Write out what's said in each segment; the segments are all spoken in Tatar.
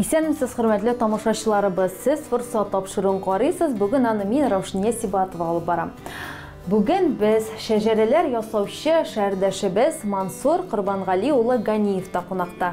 Исәнмесез, хөрмәтле тамашачыларыбыз! Сез форсат тапшыруын карыйсыз, бүген аны мин, Раушния Сибатова алып барам. Бүген без шәҗәрәләр ясаучы шәһәрдәшебез Мансур Корбангали улы Ганиевта кунакта.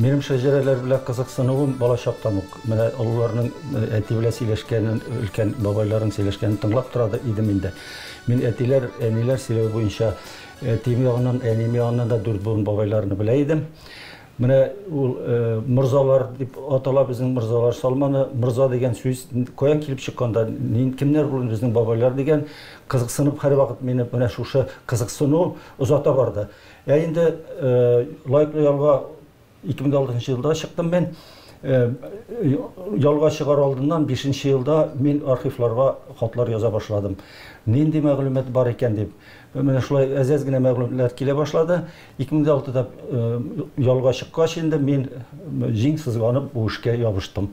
Минем шәҗәрәләр белән кызыксынуым балачактан ук. Менә олыларның э, әти белән сөйләшкәнен, өлкән бабайларның сөйләшкәнен тыңлап тора да идем инде. Мин әтиләр, әниләр сөйләве буенча әтием ягыннан, әнием ягыннан да дүрт буын бабайларны белә идем. Менә ул э, морзалар дип атала безнең морзалар салманы. Морза дигән сүз каян килеп чыкканда, нин кемнәр булган безнең бабайлар дигән кызыксынып һәрвакыт мине менә шушы кызыксыну озата барды. Ә инде лайклы ялга 2006 елда чыктым мин. Ялга чыгар алдыннан бишенче елда мин архивларга хатлар яза башладым. Нинди мәгълүмат бар икән дип. Менә шулай әз-әз генә мәгълүматлар килә башлады. 2006 да ялга чыккач инде мин җиң сызганып бу эшкә ябыштым.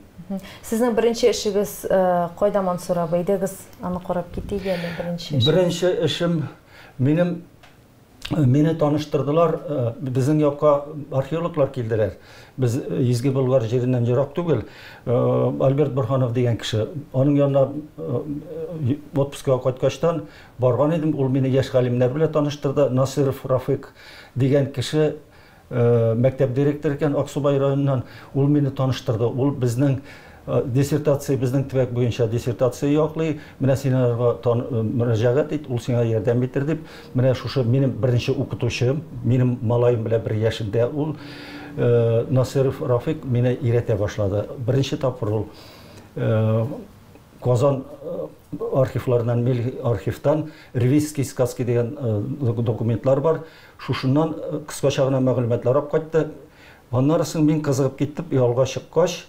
Сезнең беренче эшегез кайда, Мансур абый? Идегез аны карап китик әле, беренче эш. Беренче эшем минем Мине таныштырдылар, безнең якка археологлар килделәр. Без Изге Болгар җиреннән ерак түгел. Альберт Борһанов дигән кеше. Аның янына отпускыга кайткачтан барган идем. Ул мине яшь галимнәр белән таныштырды. Насыйров Рафыйк дигән кеше Мәктәп директоры икән, Аксубай районыннан. Ул мине таныштырды. Ул безнең диссертация, безнең төбәк буенча диссертация яклый. Менә син аларга мөрәҗәгать ит, ул сиңа ярдәм итер, дип. Менә шушы минем беренче укытучым, минем малаем белән бер яшендә ул, Насыйров Рафыйк мине өйрәтә башлады. Беренче тапкыр ул Казан архивларыннан, милли архивтан Ревизские сказки дигән документлар бар. Шушыннан кыскача гына мәгълүматлар алып кайтты. Аннары соң мин кызыгып киттеп, ялга чыккач,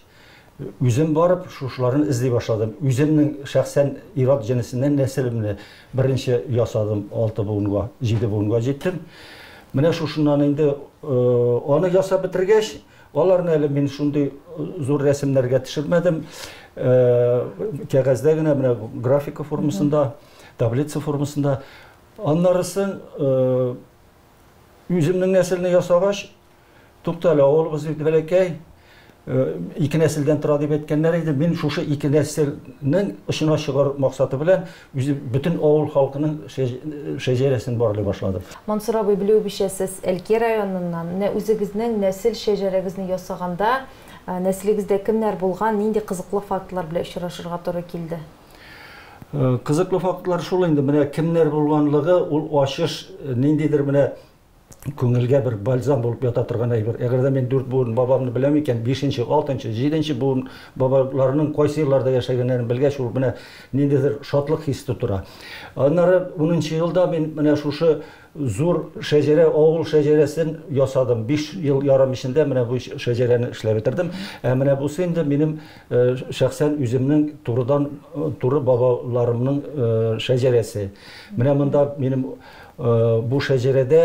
үзем барып, шушыларны эзли башладым. Үземнең шәхсән ир-ат җенесеннән нәселемне беренче ясадым, алты буынга, җиде буынга җиттем. Менә шушыннан инде аны ясап бетергәч, аларны әле мин шундый зур рәсемнәргә төшермәдем, кәгазьдә генә, менә графика формасында, таблица формасында Аннарысын үземнең нәселне ясагач, туктале, авылыбыз бит бәләкәй, ике нәселдән тора дип әйткәннәр иде. Мин шушы ике нәселнең очына чыгару максаты белән үзе бөтен авыл халкының шәҗәрәсен барлый башладым. Мансур абый, белүебезчә, сез Әлки районыннан. Менә үзегезнең нәсел шәҗәрәгезне ясаганда, нәселегездә кемнәр булган, нинди кызыклы фактлар белән очрашырга туры килде? Кызыклы фактлар шул инде, менә кемнәр булганлыгы, ул ачыш ниндидер менә күңелгә бер бальзам булып ята торган әйбер. Әгәр дә мин дүрт буын бабамны беләм икән, бишенче, алтынчы, җиденче буын бабаларының кайсы елларда яшәгәннәрен белгәч, ул менә ниндидер шатлык хис тотыра. Аннары унынчы елда мин менә шушы Зур шәҗәрә, авыл шәҗәрәсен ясадым. Биш ел ярым эчендә менә бу шәҗәрәне эшләп бетердем. Ә менә бусы инде минем шәхсән үземнең турыдан туры бабаларымның шәҗәрәсе. Менә монда минем бу шәҗәрәдә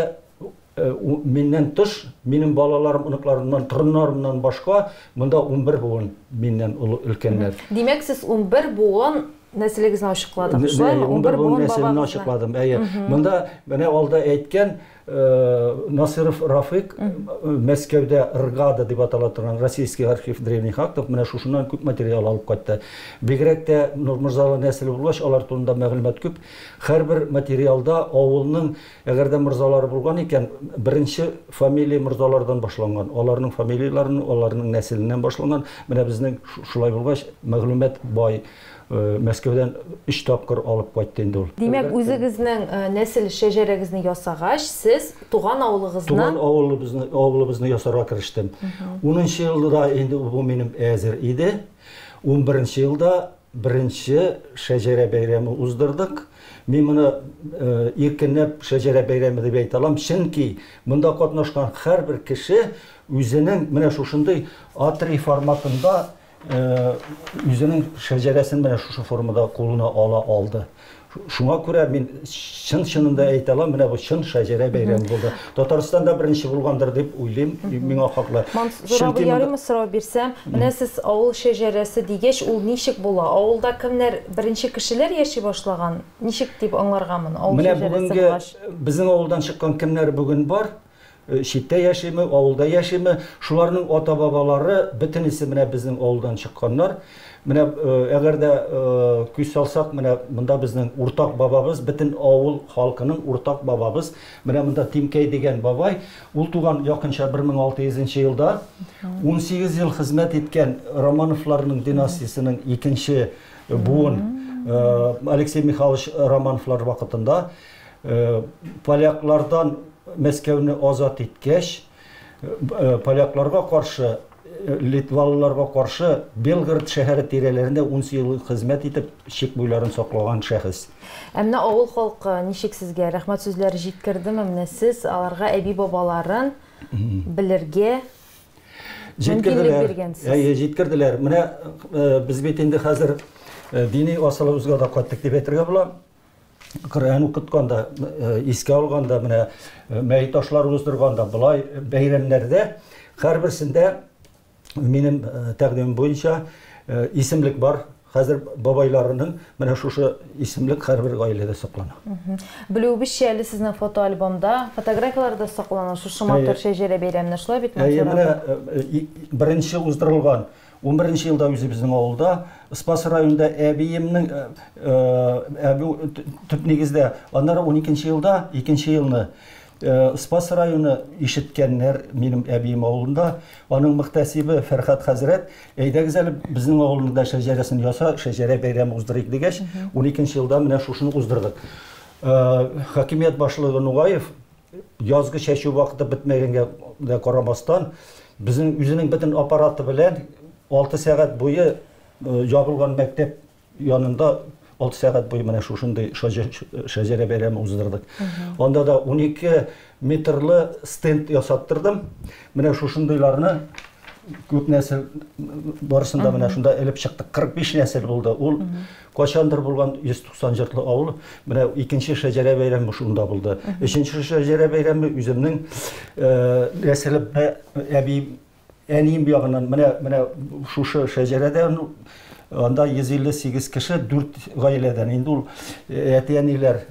миннән тыш, минем балаларым, оныкларымнан, торыннарымнан башка монда унбер буын миннән олы, өлкәннәр. Димәк, сез унбер буын Нәселегезне ачыкладык, шулаймы? 11 буын нәселен ачыкладым. Әйе. Монда менә алда әйткән э, Насыров Рафык э, Мәскәүдә РГАДА дип атала торган Российский архив древних актов менә шушыннан күп материал алып кайтты. Бигрәк тә Нурмырзалы нәселе булгач, алар турында мәгълүмат күп. Һәрбер материалда авылның Әгәр дә морзалары булган икән, беренче фамилия морзалардан башланган, аларның фамилияләрен, аларның нәселеннән башланган. Менә безнең шулай булгач, мәгълүмат бай. Мәскәүдән өч тапкыр алып кайтты инде ул. Димәк, үзегезнең нәсел шәҗәрәгезне ясагач, сез туган авылыгызны. Туган авылыбызны, авылыбызны ясарга керештем. Унынчы елда инде бу минем әзер иде. Унберенче елда Беренче шәҗәрә бәйрәме уздырдык. Мин моны иркенләп шәҗәрә бәйрәме дип әйтә алам, чөнки монда катнашкан һәрбер кеше үзенең менә шушындый А3 форматында үзенең шәҗәрәсен менә шушы формада кулына ала алды. Шуңа күрә мин чын-чынын да әйтә алам, менә бу чын шәҗәрә бәйрәме булды. Татарстанда беренче булгандыр дип уйлыйм, миңа хаклы. Мансур абый, ярыймы сорау бирсәм? Менә сез авыл шәҗәрәсе дигәч, ул ничек була? Авылда кемнәр, беренче кешеләр яши башлаган? Ничек дип аңларга моны, авыл шәҗәрәсе булгач? Менә бүгенге безнең авылдан чыккан кемнәр бүген бар, Читтә яшиме, авылда яшиме, шуларның ата-бабалары бөтенесе менә безнең авылдан чыкканнар. Менә әгәр дә күз салсак, менә монда безнең уртак бабабыз, бөтен авыл халкының уртак бабабыз, менә монда Тимкәй дигән бабай, ул туган якынча 1600 нче елда, унсигез ел хезмәт иткән Романовларның династиясенең икенче буын Алексей Михайлович Романовлар вакытында Поляклардан Мәскәүне азат иткәч, полякларга каршы, литвалыларга каршы Белгород шәһәре тирәләрендә унсу ел хезмәт итеп, чик буйларын саклаган шәхес. Ә менә авыл халкы ничек сезгә, рәхмәт сүзләре җиткердеме? Менә сез аларга әби-бабаларын белергә мөмкинлек биргәнсез. Әйе, җиткерделәр. Менә без бит инде хәзер дини асылыбызга да кайттык дип әйтергә була. Коръән укытканда, искә алганда, менә мәй ташлар уздырганда, болай бәйрәмнәрдә һәрберсендә минем тәкъдимем буенча исемлек бар. Хәзер бабайларының менә шушы исемлек һәрбер гаиләдә саклана. Белүебезчә, әле сезнең фотоальбомда, фотографияләр дә саклана шушы матур Шәҗәрә бәйрәменә, шулай бит, Мансур абый? Әйе, менә беренче уздырылган Унберенче елда үзебезнең авылда, Спас районында әбиемнең төп нигездә, аннары уникенче елда, икенче елны Спас районы ишеткәннәр, минем әбием авылында, аның мөхтәсибе Фәрхәт хәзрәт, әйдәгез әле безнең авылның да шәҗәрәсен яса, шәҗәрә бәйрәме уздырыйк дигәч, уникенче елда менә шушыны уздырдык. Хакимият башлыгы Нугаев Язгы чәчү вакыты бетмәгәнгә дә карамастан, безнең үзенең бөтен аппараты белән алты сәгать буе ябылган мәктәп янында алты сәгать буе менә шушындый шәҗәрә бәйрәме уздырдык. Анда да 12 метрлы стенд ясаттырдым. Менә шушындыйларны күп нәсел барысын да менә шунда элеп чыктык. 45 нәсел булды. Ул Кайчандыр булган 190 җыртлы авыл, менә икенче шәҗәрә бәйрәме шунда булды. Өченче шәҗәрә бәйрәме үземнең нәселем, әбием, әнием ягыннан, менә, менә шушы шәҗәрәдә анда 158 кеше, 4 гаиләдән. Инде ул әти-әниләр,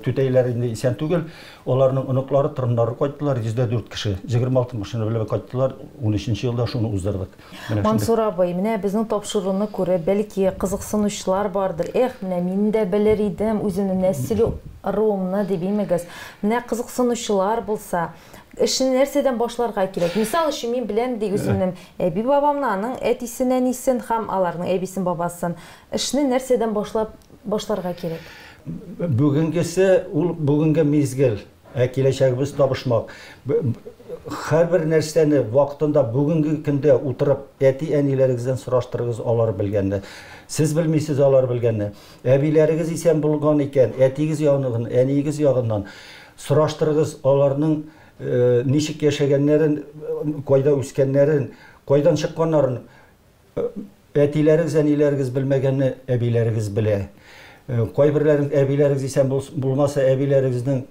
түтәйләр инде исән түгел, аларның оныклары, торыннары кайттылар, 104 кеше. 26 машина белән кайттылар, унөченче елда шуны уздырдык. Мансур абый, менә безнең тапшыруны күреп, бәлки, кызыксынучылар бардыр, эх, менә мин дә белер идем үземнең нәсел ыруымны дип имегез. Менә кызыксынучылар булса, эшне нәрсәдән башларга кирәк? Мисал өчен, мин беләм ди үземнем әби-бабамны, аның әтисен, әнисен һәм аларның әбисен, бабасын. Эшне нәрсәдән башлап башларга кирәк? Бүгенгесе, ул бүгенге мизгел. Ә киләчәгебез табышмак. Һәрбер нәрсәне вакытында, бүгенге көндә утырып, әти-әниләрегездән сораштырыгыз, алар белгәнне. Сез белмисез алар белгәнне. Әбиләрегез исән булган икән, әтиегез ягыннан, әниегез ягыннан сораштырыгыз, аларның ничек яшәгәннәрен, кайда үскәннәрен, кайдан чыкканнарын. Әтиләрегез, әниләрегез белмәгәнне әбиләрегез белә. Кайберләрегез, әбиләрегез исән булмаса, әбиләрегезнең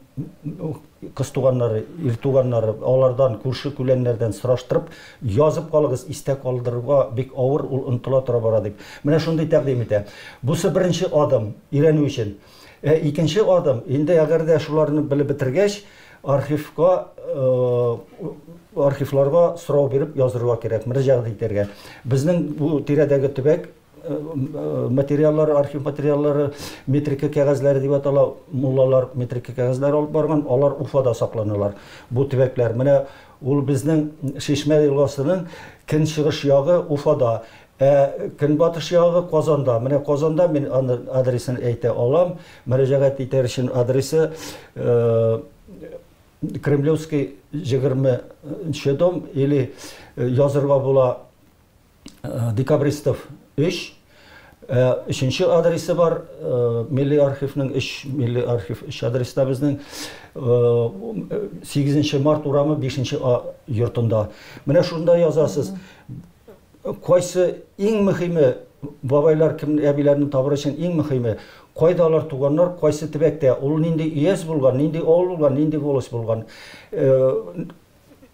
кыз туганнары, ир туганнары, алардан, күрше-күләннәрдән сораштырып, язып калыгыз, истә калдырырга бик авыр, ул онытыла тора бара, дип. Менә шундый тәкъдим итә. Бусы беренче адым, өйрәнү өчен. Ә икенче адым, инде әгәр дә шуларны белеп бетергәч, архивка, архивларга сорау биреп язырга кирәк, мөрәҗәгать итәргә. Безнең бу тирәдәге төбәк материаллары, архив материаллары, метрика кәгазьләре дип атала, муллалар метрика кәгазьләре алып барган, алар Уфада сакланалар, бу төбәкләр. Менә ул безнең Чишмә елгасының көнчыгыш ягы Уфада. Ә көнбатыш ягы Казанда. Менә Казанда мин аны адресын әйтә алам. Мөрәҗәгать итәр өчен адресы Кремлевский 20 нче дом или язырга була Декабристов 3. Ә өченче адресы бар Милли архивның 3, Милли архив 3 адреста безнең 8 нче март урамы 5 нче А йортында. Менә шунда язасыз. Кайсы иң мөхиме, бабайлар кем әбиләрне табыр өчен иң мөхиме, кайда алар туганнар, кайсы төбәктә, ул нинди өяз булган, нинди авыл булган, нинди волость булган.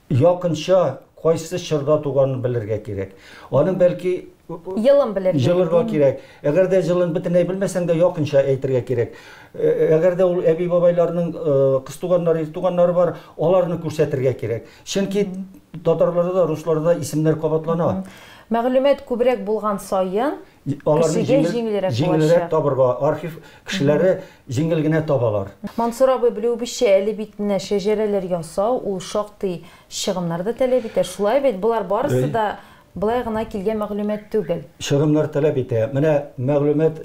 Якынча кайсы чорда туганын белергә кирәк. Аның бәлки Елын белергә. Җылырга кирәк. Әгәр дә җылын бөтенләй белмәсәң дә, якынча әйтергә кирәк. Әгәр дә ул әби-бабайларның кыз туганнары, ир туганнары бар, аларны күрсәтергә кирәк. Чөнки татарларда да, русларда да исемнәр кабатлана. Мәгълүмат күбрәк булган саен, кешегә җиңелрәк булачак. Җиңелрәк табырга, архив кешеләре җиңел генә табалар. Мансур абый, белүебезчә, әле бит менә шәҗәрәләр ясау, ул шактый чыгымнар да таләп итә. Шулай бит, болар барысы да болай гына килгән мәгълүмат түгел. Чыгымнар таләп итә. Менә мәгълүмат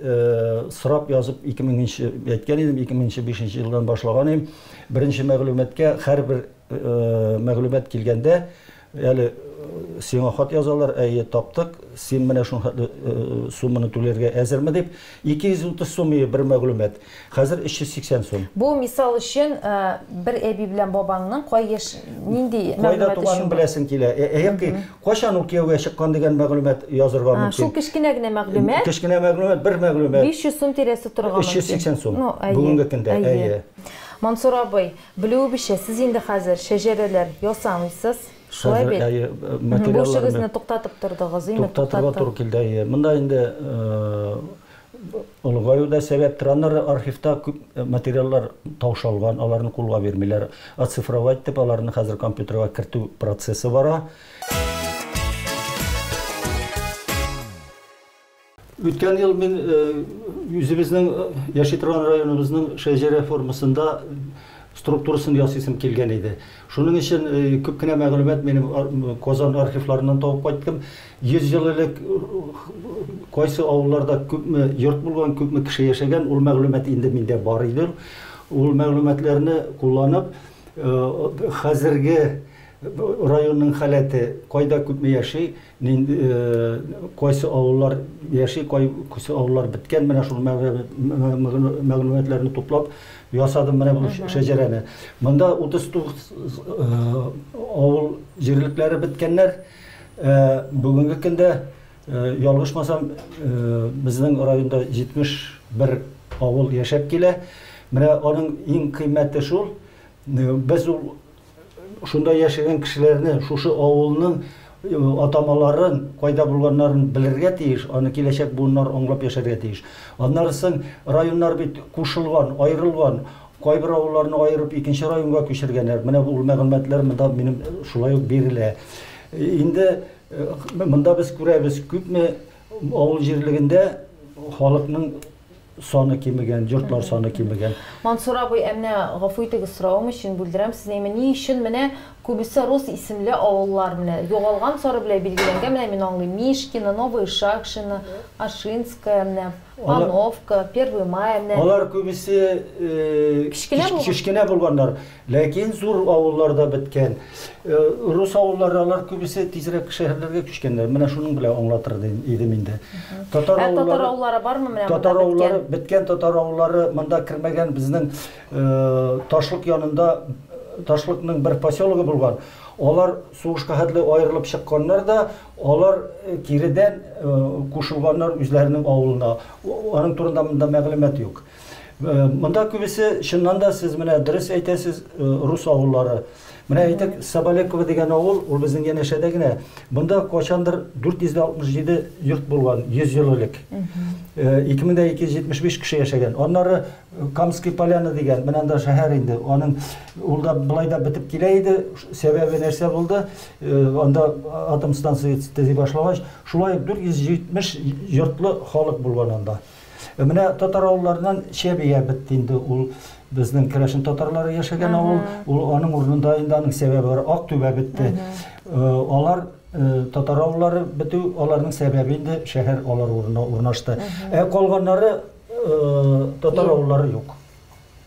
сорап язып, 2000 нче, әйткән идем, 2000 нче, 2005 нче елдан башлаган идем. Беренче мәгълүматкә һәрбер мәгълүмат килгәндә, әле сиңа хат язалар, әйе, таптык, син менә шул хәтле сумманы түләргә әзерме дип, 230 сум иде бер мәгълүмат, хәзер 380 сум. Бу мисал өчен бер әби белән бабаңның кай яшь, нинди мәгълүмат өчен? Кайда туганын беләсең килә, яки кайчан ул кияүгә чыккан дигән мәгълүмат язырга мөмкин. Шул кечкенә генә мәгълүмат. Кечкенә мәгълүмат, бер мәгълүмат. 500 сум тирәсе торырга мөмкин. 380 сум, бүгенге көндә, әйе. Мансур абый, Белүебезчә, сез инде хәзер шәҗәрәләр ясамыйсыз, шулай бит? Хәзер, әйе, материалларны. Бу эшегезне туктатып тордыгыз, именно туктатып. Туктатырга туры килде, әйе. Монда инде олыгаю да сәбәптер. Аннары архивта күп материаллар таушалган, аларны кулга бирмиләр. Оцифровать итеп, аларны хәзер компьютерга кертү процессы бара. Үткән ел мин үзебезнең яши торган районыбызның шәҗәрә формасында структурасын ясыйсым килгән иде. Шуның өчен күп кенә мәгълүмат минем Казан архивларыннан табып кайттым. 100 ел элек кайсы авылларда күпме йорт булган, күпме кеше яшәгән, ул мәгълүмат инде миндә бар иде. Ул мәгълүматларны кулланып, хәзерге районның халәте, кайда күпме яши, Нинди, кайсы авыллар яши, кайсы авыллар беткән, менә шул мәгълүматларны туплап ясадым менә бу шәҗәрәне. Монда 39 авыл җирлекләре беткәннәр. Бүгенге көндә, ялгышмасам, безнең районда 71 авыл яшәп килә. Менә аның иң кыйммәте шул, без ул Шунда яшәгән кешеләрне, шушы авылның атамаларын, кайда булганнарын белергә тиеш, аны киләчәк буыннар аңлап яшәргә тиеш. Аннары соң районнар бит кушылган, аерылган, кайбер авылларны аерып икенче районга күчергәннәр. Менә бу мәгълүматлар монда минем шулай ук бирелә. Инде монда без күрәбез, күпме авыл җирлегендә халыкның саны кимегән, йортлар саны кимегән. Мансур абый, ә менә гафу итегез, соравым өчен бүлдерәм сезне, әмма ни өчен менә күбесе рус исемле авыллар менә югалган сары белән билгеләнгән, менә мин аңлыйм, Мишкино, Новое Шакшино, Ашинское, менә Пановка, Первый Май, менә. Алар күбесе кечкенә булганнар. Ләкин зур авыллар да беткән. Рус авыллары, алар күбесе тизрәк шәһәрләргә күчкәннәр. Менә шуның белән аңлатыр идем инде. Татар авыллары... Ә татар авыллары бармы менә монда беткән? Татар авыллары беткән, татар авыллары монда кермәгән. Безнең Ташлык янында Ташлыкның бер поселогы булган. Алар сугышка хәтле аерылып чыкканнар да, алар киредән кушылганнар үзләренең авылына. Аның турында монда мәгълүмат юк. Монда күбесе чыннан да сез менә дөрес әйтәсез, э, рус авыллары. Менә әйтик, Сабалекова дигән авыл, ул безнең янәшәдә генә. Монда качандыр 467 йорт булган 100 ел элек. 2275 э, кеше яшәгән. Аннары э, Камский поляна дигән, менә анда шәһәр инде. Аның ул да былай да бетеп килә иде. Сәбәбе нәрсә булды? Анда атом станциясе төзи башлагач, шулай 470 йортлы халык булган анда. Э, менә татар авылларыннан Чәбия бетте инде ул безнең керәшен татарлары яшәгән авыл, ул аның урынында инде аның сәбәбе бар, ак түбә бетте. Э, алар э, татар авыллары бетү, аларның сәбәбе инде шәһәр алар урынына урнашты. Ә калганнары татар авыллары юк.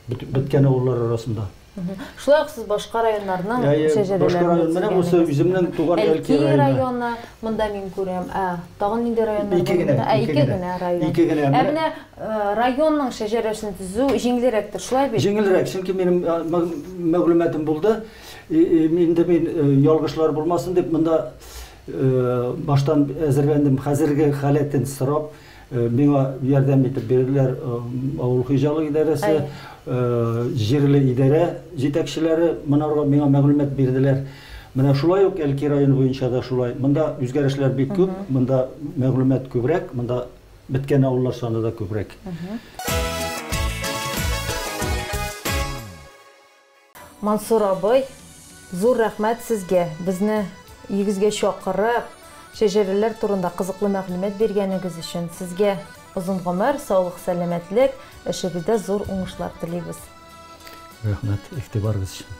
бит- беткән авыллар арасында. Мгм. Шулай ук сез башка районнарның Ә, е, шәҗәрәләрен башка дә район, менә төзегәнегез. бусы үземнең туган Әлки Әлки районы. районы, монда мин күрәм. Ә, тагын нинди районнар Ике бар генә, монда? Ә, ике ике генә. генә район. Ике генә. Ә Менә- менә э, районның шәҗәрәсен төзү җиңелрәктер, шулай бит? Җиңелрәк, чөнки минем а, мәг- мәгълүматым булды. И, и, мин инде мин э, ялгышлар булмасын дип, монда э, баштан әзерләндем, хәзерге халәтен сорап. Э, миңа ярдәм итеп бирделәр э, авыл хуҗалык идарәсе э, җирле идарә җитәкчеләре монарга миңа мәгълүмат бирделәр менә шулай ук әлки районы буенча да шулай монда үзгәрешләр бик күп монда мәгълүмат күбрәк монда беткән авыллар саны да күбрәк Мансур абый, зур рәхмәт сезгә, безне өегезгә чакырып, шәҗәрәләр турында кызыклы мәгълүмат биргәнегез өчен. Сезгә озын гомер, саулык, сәламәтлек, эшегездә зур уңышлар телибез. Рәхмәт, игътибарыгыз өчен.